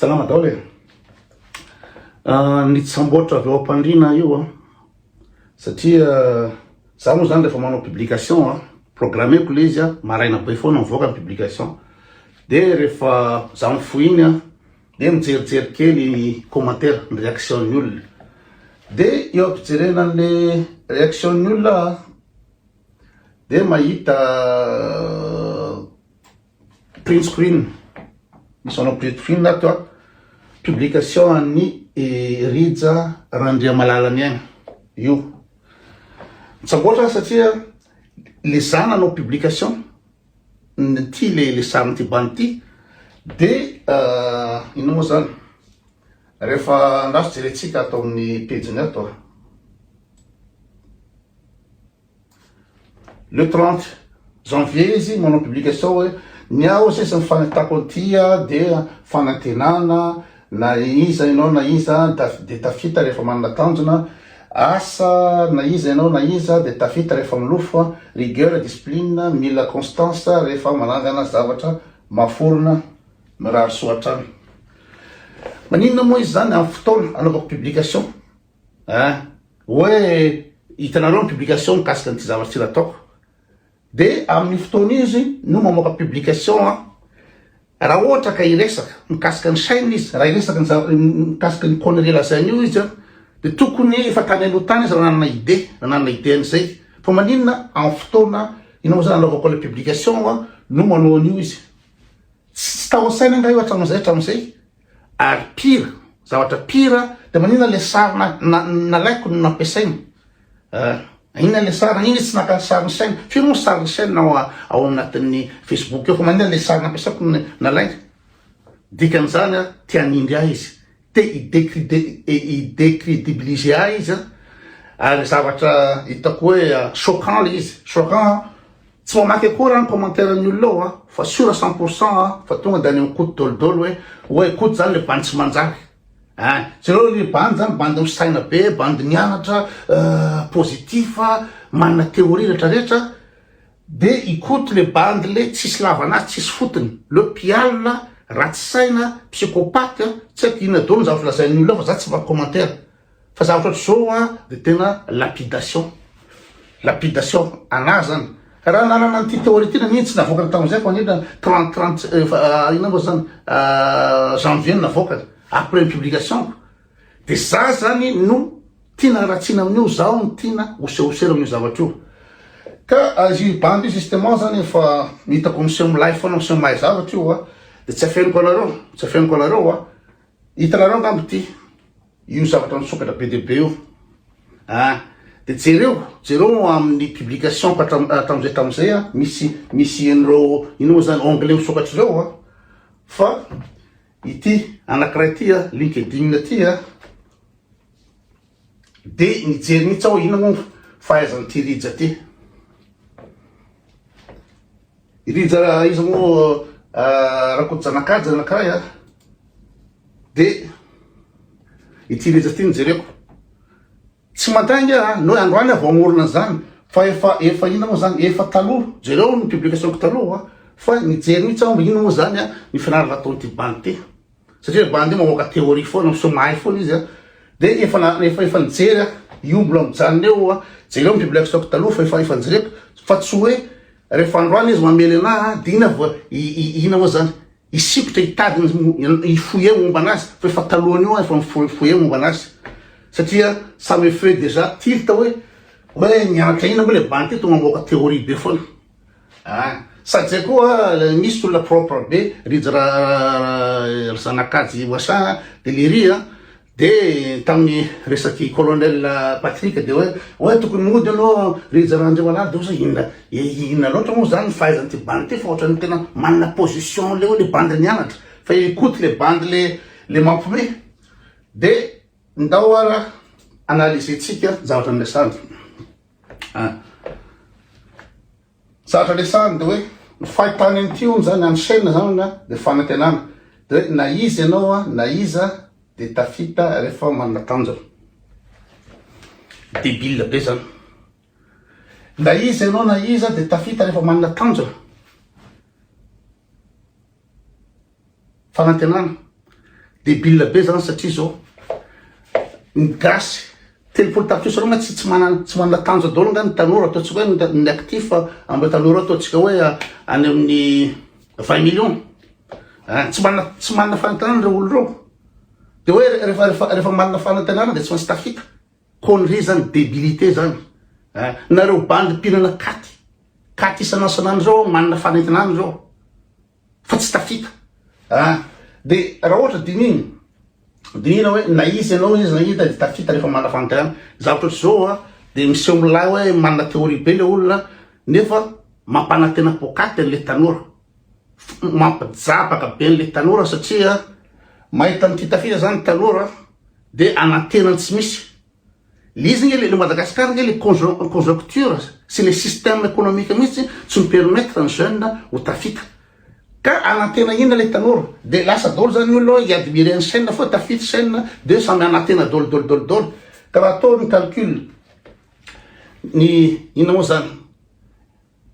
Salama daholo e! Nitsamboatra avy ao am-pandriana io an! Satria za moa zany rehefa manao publication an, programmeko le izy an, maraina be foana mivoaka ny publication, de rehefa za mifoha iny an, de mijerijery kely ny commentaire, ny réaction ny olona, de eo am-pijerena anle réaction ny olona aho an, de mahita. Print screen, Misy manao print screen ato a. Publication an'i Rija Randriamalala-Niaina io. Mitsamboatra aho satria le za nanao publication n'ity le le sarin'ity bandy ity de inona moa zany rehefa andraso jerentsika ato amin'ny pejiny ato a. Le trente janvier izy manao publication hoe ny aho sisa ny fanentako an'ity a dia fanantenana na iza ianao na iza dia tafita rehefa manana tanjona asa na iza ianao na iza dia tafita rehefa milofo a rigueur discipline mila constance rehefa manangana zavatra maforona mirary soa hatrany maninona moa izy izany amin'ny fotoana anaovako publication Eeh oe hitanareo ny publication mikasika an'ity zavatra ity nataoko de amin'ny fotoana izy no mamoaka publication an raha ohatra ka hiresaka mikasika ny chaine izy raha hiresaka ny zavatra mikasika ny connerie lazainy io izy an de tokony efa tany aloha tany izy raha nanana idée raha nanana idée an'izay fa maninona amin'ny fotoana inona moa zany anaovako ilay publication an no manao an'io izy tsy tao an-tsainy angaha io hatramin'izay hatramin'izay Ary pire, zavatra pire dia maninona ilay sary nalaiko no nampiasaina? Eh, inona ilay sary? Maninona izy tsy naka sarin'i Shane? Firy moa ny sarin'i Shane ao, ao anatin'ny Facebook eo fa maninona ilay sary nampiasaiko no nalaina? Dikan'izany a, te hanindry ahy izy, te hi-decredibiliser ahy izy a, ary zavatra hitako hoe choquant ilay izy, choquant Tsy mamaky akory aho ny commentaire ny olona ao a, fa sura cent pour cent a, fa tonga de any am koto dolo dolo hoe, oay koto zany le bandy tsy manjary ein, jereo ry bandy zany bandy misaina be, bandy mianatra, euh positif, manana theorie retra retra, de i koto le bandy le tsisy lavana azy tsisy fotony, le mpialona, ratsy saina, psychopathe, tsy aiko inona dolo ny zavatra lazain'ny olona ao fa za tsy mamaky commentaire, Fa zavatra ohatr'izao an dia tena lapidation, lapidation anah zany raha nanana an'ity théorie ity na mino tsy navoakany tamin'izay fa ange trente trente efa inona moa zany janvier no navoakany après ny publication-ko dia za zany no tiana haratsiana amin'io zaho no tiana hosehoser amin'io zavatra io ka izy bandy io justement zany efa hitako miseho milay foana miseho mahay zavatra io an dia tsy afeniko anareo tsy afeniko anareo an Hitanareo angamba ity io zavatra nisokatra be dia be io a ah, dia jereo jereo amin'ny publication hatramin'izay hatramin'izay a ah, misy misy an'ireo ino moa zany anglais misokatra ireo a ah. fa ity anankiray ity a linkedin ity a De nijery mihitsy aho inona moa fahaizan'ity Rija ty. I Rija iza moa Rakotojanakajy anankiray a. De ity Rija ity no jereko. Tsy mandainga a, noho androany aho vao hamorona an'izany fa efa efa inona moa zany, efa taloha, jereo ny publication-ko taloha fa nijery mihitsy aho inona moa zany ny fianarana ataon'ity bandy ity. satria bandy io mamoaka théorie foana sao mahay foana izy a dia efa na efa efa nijery a io mbola mijanona eo a jereo ny bible stock taloha fa efa efa nijereko fa tsy hoe rehefa androany izy mamely anah a dia ina vao ina moa zany hisikotra hitady ny hifoyer momba anazy fa efa talohan'io a efa mifoyer momba anazy satria ça me fait déjà tilt hoe hoe nianatra ina moa le bandy ty tonga mamoaka théorie be foana Ah! Sady zay koa misy olona propre be rija ra ry zanakajy Wacha de lery a! de tamin'ny resaky colonel Patrick de hoe oe tokony mody anao rija ra Andriamalaly de oe za inona e inona loatra moa zany ny fahaizan'ity bandy ty fa ohatran'ny tena manana position le hoe le bandy nianatra fa i Koto le bandy le le mampime de ndao ara analyser-tsika zavatra niresahana. Ah. Zatra resahany de hoe ny fahitany an'ity hono zany any chaine zany hono a de fanantenana. De hoe na iza ianao a, na iza de tafita rehefa manana tanjona. Debile be zany. Na iza ianao na iza de tafita rehefa manana tanjona. Fanantenana. Debile be zany satria zao ny gasy telopolo tapitrisa reo nga tsy tsy manana tsy manana tanjo daholo nga ny tanora ataontsika hoe ny actif ambe tanora ataontsika hoe any amin'ny vingt million ah, tsy manana tsy manana fanantenana reo olo reo de hoe refa refa refa manana fanantenana de tsy maintsy tafita Connerie zany, debilité zany eh! Nareo bandy mpihinana katy, katy isan'asan'andro zao aho manana fanentina any zao fa tsy tafita ah! De raha ohatra dinihina, dinihina hoe na izy ianao na izy na iza de tafita rehefa manana fanentina zavatra ohatr'izao ah! De miseho milay hoe manana théorie be le olona nefa mampanantena poakaty an'le tanora. Mampijabaka be an'ilay tanora satria mahita an'ity tafita zany ny tanora de anantena ny tsy misy. Le izy nge le Madagascar nge le conjoncture sy le système économique mihitsy tsy mi permettre ny jeune ho tafita. Ka anantena inona le tanora? De lasa daholo zany ny olona hoe i admire an'i chaine foa tafita chaine de samy anantena daholo daholo daholo daholo. Ka raha atao ny calcul ny inona moa zany?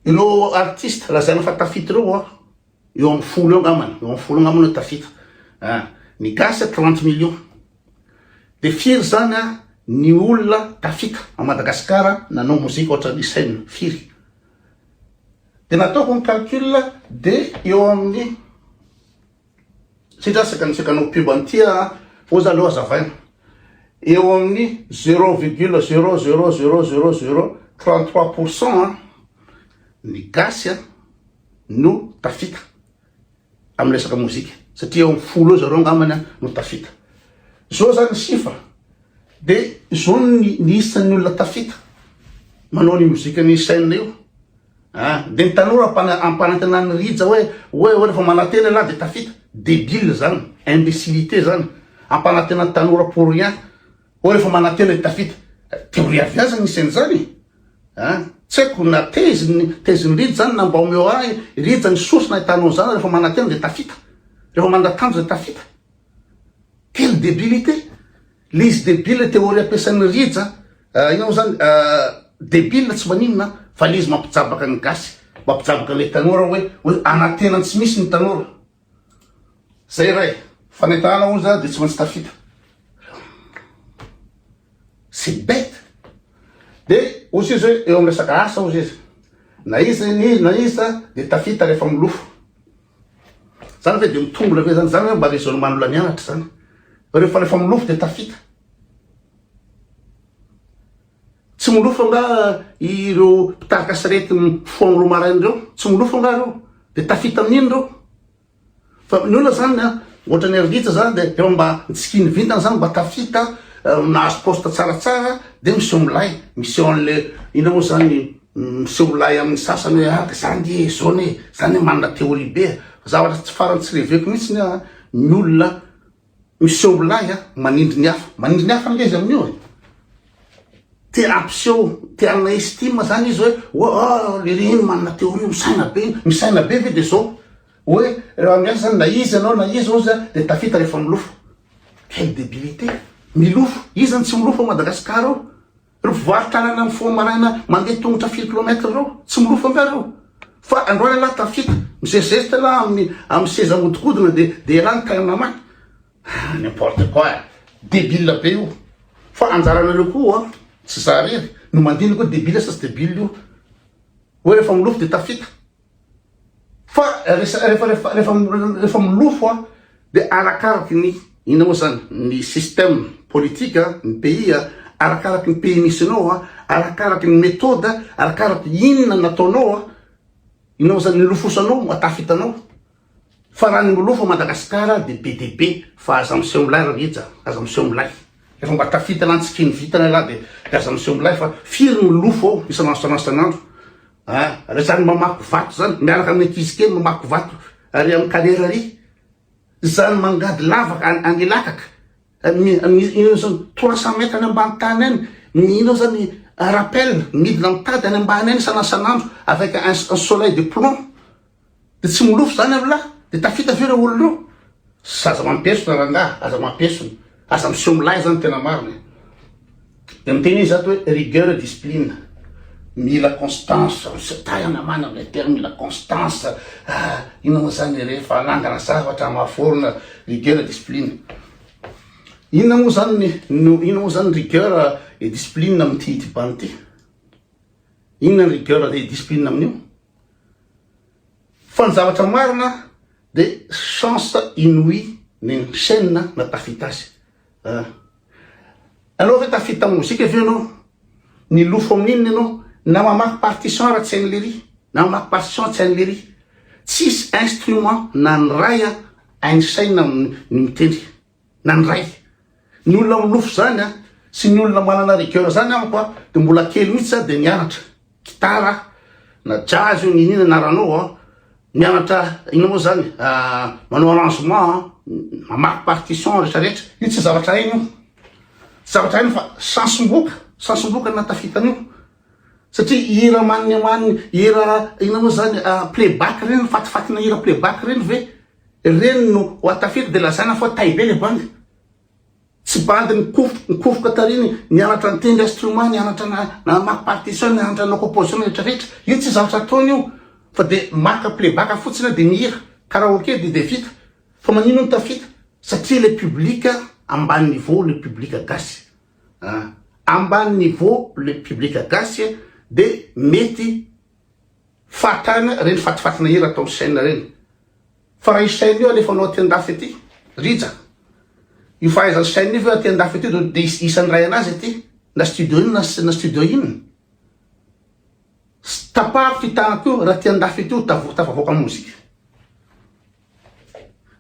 Ireo artiste lazaina fa tafita ireo an, eo amin'ny folo eo angambany, eo amin'ny folo angambany hoe tafita an, ny gasy trente millions, dia firy izany an ny olona tafita ao Madagasikara nanao mozika ohatran'ny Hussein, firy? Dia nataoko ny calcul dia eo amin'ny. Sitran seka niseka anao pub an'i tia a! Ô za aleo azavaina. Eo amin'ny zero virgule zero zero zero zero zero trente trois pour cent an, ny gasy an no tafita amin'ny resaka mozika satria eo amin'ny folo eo zareo angambany an no tafita. Zao zany ny chiffre de zao ny ny isan'ny olona tafita manao ny mozika ny chaine io. An! Dia ny tanora mpana ampanantenan'i Rija hoe hoe hoe rehefa manantena ialahy dia tafita. Debile zany, imbecilite zany. Ampanantena ny tanora pour rien. Hoe rehefa manantena dia tafita. Theorie avy aiza nisy an'izany e? An! Tsy haiko na tezin tezin'i Rija zany na mba omeo ahy Rija ny source nahitanao izany rehefa manantena dia tafita. Rehefa mandatanja dia tafita. Quelle debilite! Le izy debile theorie ampiasain'i Rija ah inona mo zany ah debile tsy maninona ah fa le izy mampijabaka ny gasy mampijabaka le tanora hoe hoe anantena ny tsy misy ny tanora zay ray fanentahana hono za de tsy maintsy tafita c'est bete de ozy izy hoe eo am resaka asa ozy izy na iza na iza de tafita refa milofo Zany ve dia mitombona ve zany? Zany ve mba raisonnement olona nianatra zany? Fa rehefa rehefa milofo dia tafita. Tsy milofo nga ireo mpitarika sarety mifoha roa maraina ireo? Tsy milofo nga ireo? Dia tafita amin'iny ireo? Fa ny olona zany a, ohatran'ny Arvitsa zany dia efa mba nitsikin'ny vintana zany mba tafita, nahazo poste tsaratsara dia miseho milay, miseho an'le inona moa zany Miseho lahy amin'ny sasany hoe ah zany nge e, zao ne, zany ne manana théorie be e. Fa zavatra tsy farany tsy reveko mihitsy ny ah ny olona miseho ho lahy ah manindry ny hafa. Manindry ny hafa ange izy amin'io e. Te hampiseho, te hanana estime zany izy hoe oh ah lery iny manana théorie iny, misaina be iny, misaina be ve de zao. Hoe raha miasa zany na iza ianao na iza ozy ah de tafita rehefa milofo. Quelle débilité! Milofo! Iza no tsy milofo ao Madagasikara ao? Ry mpivarotra anana mifoha maraina mandeha tongotra firy kilomètre ireo? Tsy milofo angaha ireo? Fa andao ialahy tafita, mizezizezi tena amin'ny amin'ny seza ahodikodina dia dia ialahy ny tanana maty? Ah n'importe quoi eh! Debile be io! Fa anjaranareo koa tsy za irery no mandinika io debile sa tsy debile io hoe rehefa milofo dia tafita? Fa rehefa milofo dia arakaraky ny inona moa izany, ny système politique ny pays, arakaraky ny pays misy anao, arakaraky ny méthode, arakaraky inona nataonao, inona moa izany nilofosanao, mahatafita anao. Farany milofo Madagasikara dia be dia be fa aza miseho milay ry rija, aza miseho milay. Rehefa mba tafitana an-tsikin'ny vintana ialahy dia dia aza miseho milay fa firy no milofo ao isan'andro isan'andro isan'andro a! Ary zany mamaky vato zany miaraka amin'ny ankizy kely mamaky vato ary amin'ny kariera ary zany mangady lavaka any any Ilakaka mi mi inona zany trois cent mètres any ambany tany any mino zany rappel midina mitady any ambany any isan'andro isan'andro avec un un soleil de plomb. De tsy milofo zany amlah de tafita ve reo olona reo sa aza mampesona rangah aza mampesona aza miseho milay zany tena marina e de miteny izy zato hoe rigueur et discipline mila constance misy tahy anamana amle terme mila constance ah inona moa zany rehefa anangana zavatra amaforona rigueur et discipline inona moa zany no inona moa zany rigueur et discipline amin'ity ity bande ity inona ny rigueur et discipline amin'io Fa ny zavatra marina de chance inouï ny chaine na tafita azy a! Anao ve tafita mozika ve ianao? Milofo amin'ny inona ianao? Na mamaky partition ara tsy hain'i lery? Na mamaky partition tsy hain'i lery? Tsisy instrument na ny ray a hain'i chaine ny mitendry. nandray ny olona minofy izany a, sy ny olona manana rigueur izany amiko a, dia mbola kely mihitsy za dia nianatra gitara na jazz io na inn na rano a, mianatra inona moa izany manao arrangement a, mamaky partition rehetra rehetra, io tsy zavatra hainy io, tsy zavatra hainy fa sansom-boka, sansom-boka no nahatafita an'io, satria hira mania mania, hira inona moa izany play back ireny, fatifatina hira play back ireny ve? Ireny no ho atafiko dia lazaina fa tay be ilay bandy. Tsy bandy nikofoka nikofoka tarihiny nianatra nitendry instrument, nianatra namaky partition, nianatra nanao composition rehetra rehetra. Io tsy zavatra ataony io fa dia maka playback fotsiny dia mihira karaoke dia dia vita. Fa manino ny tafita? Satria ilay public ambany niveau ilay public gasy an! Ambany niveau ilay public gasy dia mety. Fatana reny fatifatina hira ataon'i Shyn reny. Fa raha i Shyn io alefanao aty andafy aty. Rija. Io fahaizan'i Shyn io ve aty andafy aty de de isan'ny iray anazy aty. Na studio inona na studio inona. Tapahako ty tanako io raha aty andafy aty tavo tafavoaka mozika.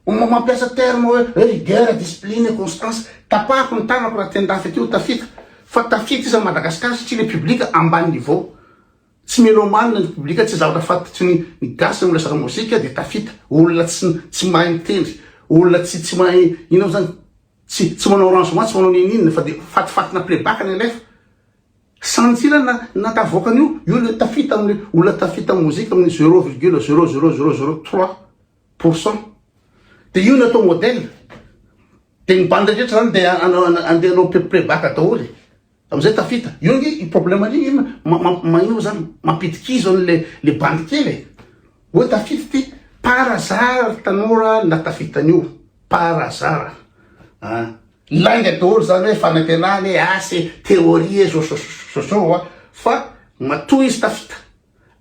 Omma mampiasa terme hoe rigueur, discipline et constance. Tapahako ny tanako raha aty andafy aty tafita. Fa tafita iza Madagascar satria le public ambany niveau. Tsy melomane ny public, tsy zavatra fantotry ny ny gasy ny resaka mozika dia tafita, olona tsy tsy mahay mitendry, olona tsy tsy mahay inona mo zany, tsy tsy manao arrangement, tsy manao ninininona fa dia fatifatina playback ny alefa. Sanjila na na tavoaka an'io, io le tafita amle olona tafita am mozika amin'ny zero virgule zero zero zero zero trois pour cent. Dia io no atao modèle. Dia ny bandy rehetra zany dia hanao handeha hanao playback daholo e. Amizay tafita. Io ange i problème ny in magnino zany mampidika izy zao le le bandy kely e. Oe tafita ty par hasard tanora na tafita an'io par hasard a. Lainga daholo zany hoe fanantenana e asa e théorie e zôzôzôzô a fa matoa izy tafita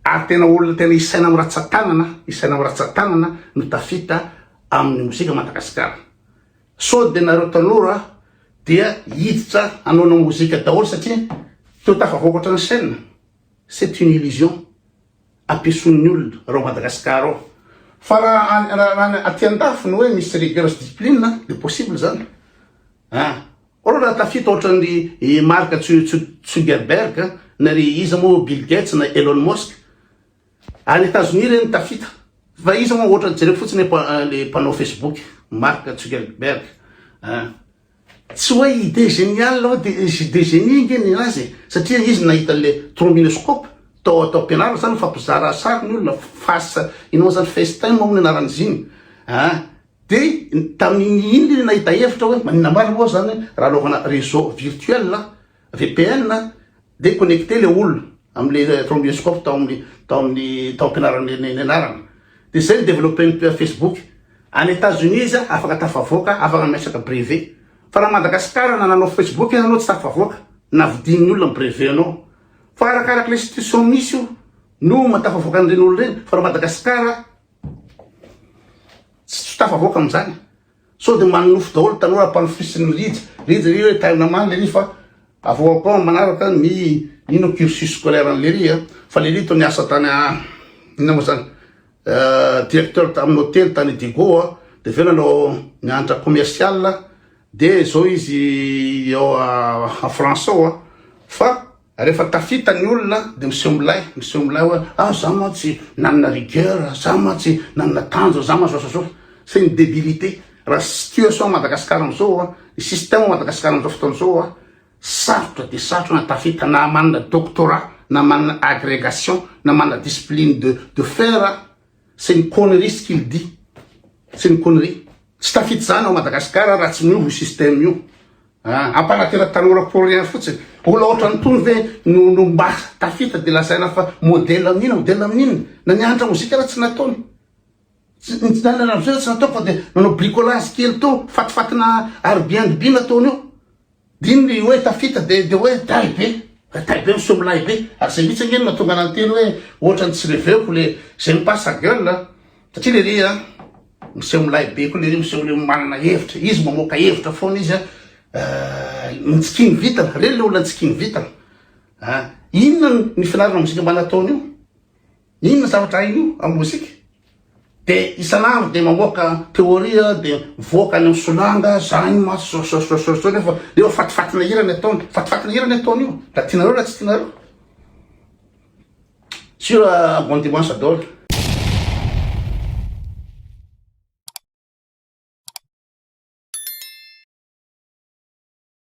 ary tena olona tena isaina am ratsatanana isaina am ratsatanana no tafita aminy mozika Madagasikara. Sao dia nareo tanora dia hiditra hanaona mozika daholo satria teo tafavoakatra ny chaîne? C'est une illusion ampiasoin'ny olona raha ao Madagascar ao. Fa raha raha ny aty andafy ny hoe misy rigueur sy discipline dia possible zany a! Olona raha tafita ohatran'ny i Mark Zuckerberg na ry iza moa Bill Gates na Elon Musk, Any Etazonia ireny ny tafita. Fa iza moa otrany jereko fotsiny le mpanao Facebook Mark Zuckerberg a. Tsy hoe idée géniale aho de de génie nge ny azy e. Satria izy nahita anle trombinoscope tao atao ampianarana sa nifampizara sary ny olona face inona zany facetime moa ny anaran'izy iny a. De tamin'iny le nahita hevitra hoe maninona marina moa zany raha anaovana réseau virtuel a. VPN a, dia connecter ilay olona amin'ilay thromboscope tao amin'ny tao amin'ny tao am-pianarana ny anarana. Dia izay ny development Facebook. Any Etats Unis izy afaka tafavoaka, afaka miresaka brevet. Fa raha Madagasikara na nanao Facebook aza anao tsy tafavoaka na vidian'ny olona ny brevet anao. Fa arakaraka ilay institution misy io no mahatafavoaka an'ireny olona ireny. Fa raha Madagasikara tsy tafavoaka amin'izany. Sao dia manonofy daholo tanora ampanofisin'ny Rija. Rija ry hoe tainona many lery fa avao ao koa manaraka ny ino cursus scolaire an'i lery a. Fa lery toa niasa tany a inona moa zany directeur tamin'ny hotely tany Idego a. Dia avy eo nanao nianatra commercial dia izao izy ao a France ao a. Fa Rehefa tafita ny olona dia miseho milay, miseho milay hoe ah za mantsy nanana rigueur, za mantsy nanana tanjona, za mantsy ohatraizao. C'est une debilité. Raha situation à Madagascar amin'izao an, ny système à Madagascar amin'izao fotoana izao an, sarotra dia sarotra na tafita na manana doctorat, na manana agrégation, na manana discipline de de fer, C'est une connerie ce qu'il dit. C'est une connerie. Tsy tafita izany ao Madagasikara raha tsy miova io système io. Ah, ampanatera tanora pour rien fotsiny. Olona ohatran'ny tony ve no no mba tafita dia lazaina fa modèle amin'ina, modèle amin'ina. Na ny hanitra mozika raha tsy nataony. Tsy ny tsy nanana vizana tsy nataoko fa dia nanao bricolage kely tao, fatifatina Airbnb nataony eo. Dino ny hoe tafita dia dia hoe tay be, fa tay be miseho milay be, ary izay mihitsy ange no nahatonga anà niteny hoe ohatran'ny tsy reveko le je ne pas sa gueule a! satria le ry a! miseho milay be koa le ry miseho le manana hevitra, izy mamoaka hevitra foana izy a! ny tsikin'ny vintana, reny le olona ny tsikin'ny vintana a! inona ny finarina mozika mba nataony io? Inona ny zavatra hain'io amin'ny mozika? De isan'andro de mamoaka théorie de mivoaka any amin'ny solanga zany maso zao zao zao zao nefa eo fatifatina hira ny ataony, fatifatina hira ny ataony io na tianareo na tsy tianareo. Sur euh, bon dimanche à Dole.